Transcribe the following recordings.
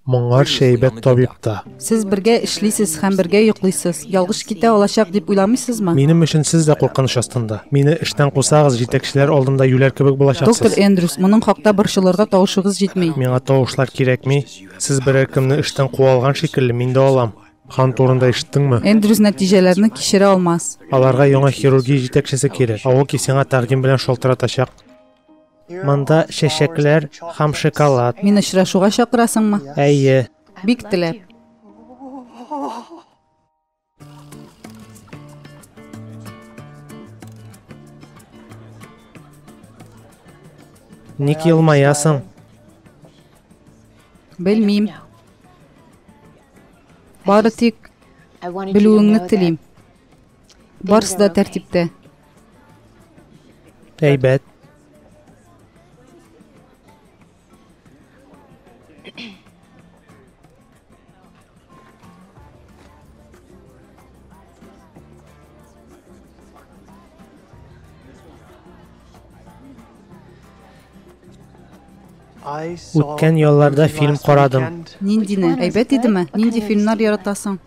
Моңарчы әйбәт табиб та. Сез бергә эшлисез һәм бергә йоклыйсыз. Ялгыш китә алачак дип уйламыйсызмы? Минем өчен сез дә куркыныч астында. Мине эштән кусагыз, җитәкчеләр алдында юләр кебек булачаксыз. Доктор Эндрюс, моның хакта борчылырга тавышыгыз җитми. Миңа тавышлар кирәкми. Сез берәр кемне эштән куа алган шикелле, мин дә алам. Хан турында ишеттеңме? Эндрюс нәтиҗәләрне кичерә алмас. Аларга яңа хирургия җитәкчесе кирәк. Аоки сиңа тәкъдим белән шалтыратачак. Монда чәчәкләр һәм шоколад. Мин очрашуга чакырасыңмы? Әйе. Бик теләп. Ник елмаясың? Белмим. Бары тик белүеңне телим. Барысы да тәртиптә. Әйбәт. Үткән ялларда фильм карадым. Ниндине? Әйбәт идеме? Нинди фильмнар яратасың?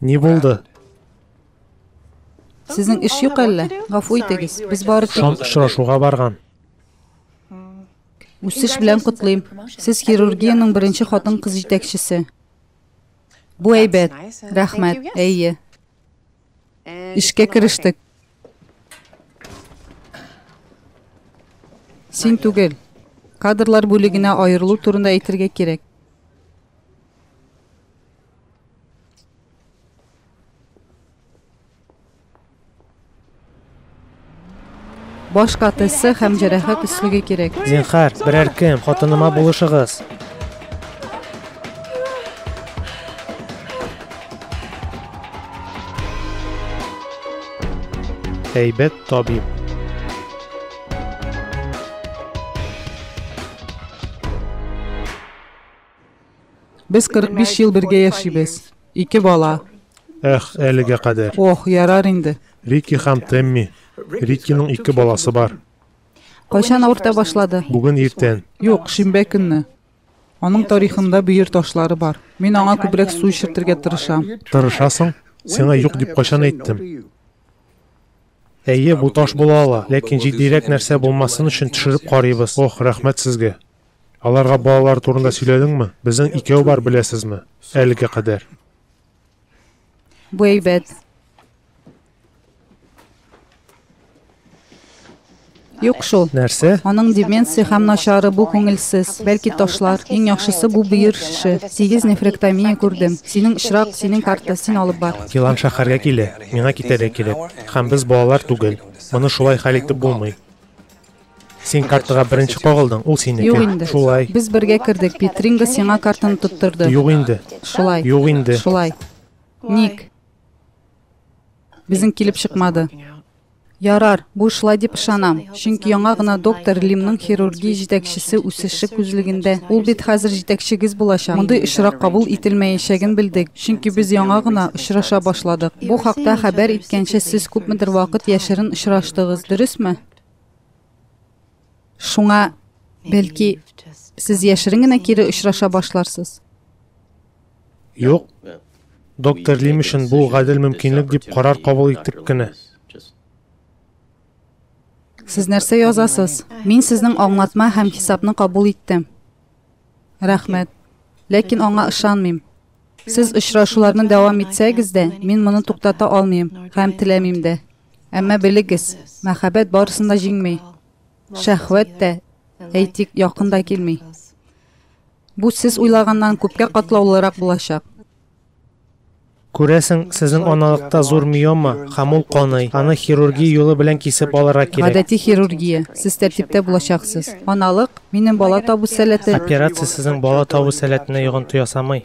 Ни булды? Сезнең эш юк әллә? Гафу итегез, без бары тик... Шон очрашуга барган. Үсеш белән котлыйм. Сез хирургиянең беренче хатын-кыз җитәкчесе. Бу әйбәт. Рәхмәт. Әйе. Эшкә керештек. Син түгел. Кадрлар бүлегенә аерылу турында әйтергә кирәк. Баш катысы һәм җәрәхәт өслеге кирәк. Зинхар, берәр кем, хатыныма булышыгыз. Әйбәт табиб. Без 45 ел бергә яшибез. Ике бала. Эх, әлегә кадәр. Ох, ярар инде. Рики һәм Темми. Рикиның ике баласы бар. Кайчан авырта башлады? Бүген иртән. Юк, шимбә көнне. Аның тарихында бөер ташлары бар. Мин аңа күбрәк су эчертергә тырышам. Тырышасың? Сиңа юк дип кайчан әйттем? Әйе, бу таш була ала, ләкин җитдирәк нәрсә булмасын өчен төшереп карыйбыз. Ох, рәхмәт сезгә. Аларга балалар турында сөйләдеңме? Безнең икәү бар, беләсезме? Әлегә кадәр. Бу әйбәт. Юк шул. Нәрсә? Аның деменция һәм начары бу күңелсез. Бәлки ташлар. Иң яхшысы бу бөер шеше. Сигез нефректомия күрдем. Синең очрак, синең карта, син алып бар. Елан шәһәргә килә. Миңа китәргә кирәк. Һәм без балалар түгел. Моны шулай хәл итеп булмый. Син картага беренче кагылдың, ул синеке. Юк инде. Шулай. Без бергә кердек, Петринга сиңа картаны тоттырды. Юк инде. Шулай. Юк инде. Шулай. Ник? Безнең килеп чыкмады. Ярар, бу шулай дип ышанам, чөнки яңа гына доктор Лимның хирургия җитәкчесе үсеше күзлегендә. Ул бит хәзер җитәкчегез булачак. Мондый очрак кабул ителмәячәген белдек, чөнки без яңа гына очраша башладык. Бу хакта хәбәр иткәнче сез күпмедер вакыт яшерен очраштыгыз, дөресме? Шуңа, бәлки, сез яшерен генә кире очраша башларсыз. Юк. Доктор Лим өчен бу гадел мөмкинлек дип карар кабул иттек кенә. Сез нәрсә язасыз? Мин сезнең аңлатма һәм хисапны кабул иттем. Рәхмәт. Ләкин аңа ышанмыйм. Сез очрашуларны дәвам итсәгез дә, мин моны туктата алмыйм һәм теләмим дә. Әмма белегез, мәхәббәт барысын да җиңми. Шәһвәт тә, әйтик, якын да килми. Бу сез уйлаганнан күпкә катлаулырак булачак. Күрәсең, сезнең аналыкта зур миома, һәм ул каный. Аны хирургия юлы белән кисеп алырга кирәк. Гадәти хирургия. Сез тәртиптә булачаксыз. Аналык, минем бала табу сәләте. Операция сезнең бала табу сәләтенә йогынты ясамый.